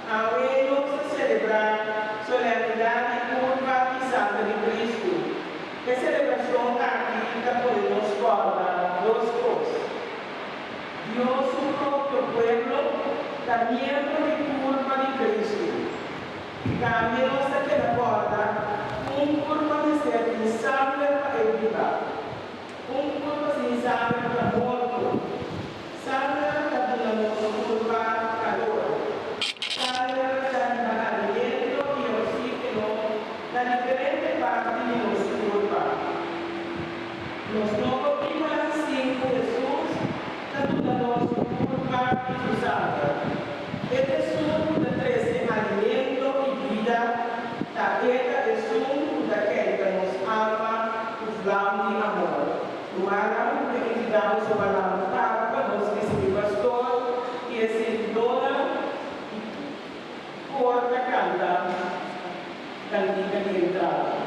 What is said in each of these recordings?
Awe nos ta selebrá Solemnidad di Culpa i Sangre di Cristo. E selebracion aki ta pone nos corda dos cos, Dios su propio pueblo ta miembro di culpa di Cristo. Tambe nos ta keda corda cu un culpa mester tin sangre pa e biba. Un kurpa sin sanger ta morto. Sanger ta duna nos kurpa kalor. Sanger ta riba aliento i oksígeno na diferente parti di nos kurpa. Nos no por bin hasi sin ku Hesus. Ta duda nos di un por parti di Usanga. E esun ku ta trese alimento i bida ta e ta esun ku ta kenta nos alma ku vlam di amor. Rumannan ku ta invitá nos a bala un taku pa nos mester di pastor i e sirvidónan di kor ta kanta kantika di entrada.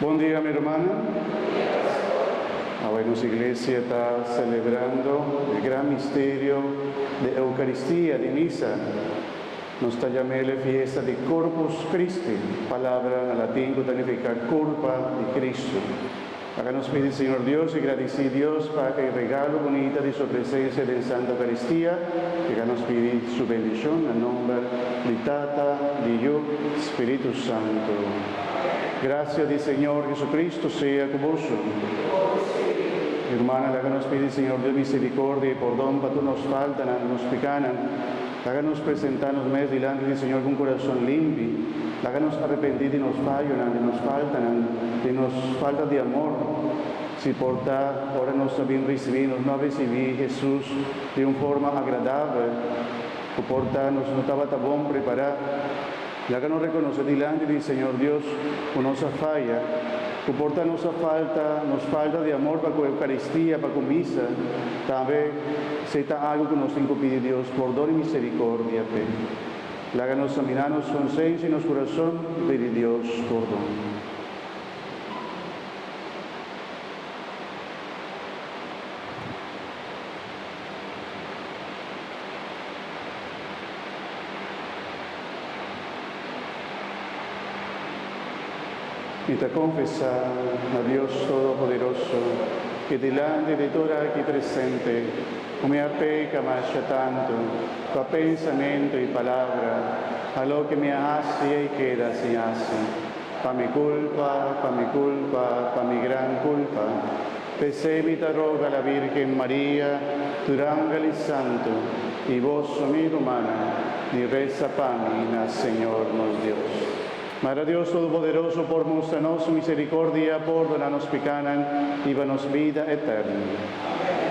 Bon dia mi rumannan. Awor nos iglesia ta selebrando e gran misterio di Eukaristia, di Misa. Nos ta yam'el e fiesta di Corpus Christi, palabra na latin cu ta nifica Curpa di Cristu. Ora nos pidi Señor Dios i gradici Dios pa e regalo bunita di su presencia den Santa Eucaristia, ora nos pidi su bendicion na nomber di Tata, di Yu, Spiritu Santo. Gracia di Señor Jesucristo sea cu boso. Hermana, laga nos pidi Señor Dios misericordia i pordon pa tur nos faltanan, nos picanan. Laga nos presentá nos mes dilanti di Señor ku un kurason limpi. Laga nos arepentí di nos fayonan, di nos faltanan, di nos falta di amor. Si por ta, ora nos ta bin risibí, nos no a risibí Hesus di un forma agradabel. Ku por ta, nos no tabata bon prepará. Laga nos rekonosé dilanti di Señor Dios ku nos a faya, ku por ta nos a falta, nos falta di amor pa ku Eukaristia, pa ku Misa, tambe s'ei ta algu ku nos tin ku pidi Dios pordon i miserikordia p'e. Laga nos saminá nos konsensia i nos kurason i pidi Dios pordon. Mi ta konfesá na Dios Todopoderoso i dilanti di tur aki presente ku mi a peka masha tantu pa pensamentu i palabra, pa loke mi a hasi ei keda sin hasi. Pa mi kulpa, pa mi kulpa, pa mi gran kulpa. P'esei mi ta roga la Bírgen Maria, tur ángel i santu, i boso mi rumannan, di resa pa mi na Señor nos Dios. Madre Dios Todopoderoso por mustra nos misericordia, pordona nos picanan i ba nos bida eterno. Amén.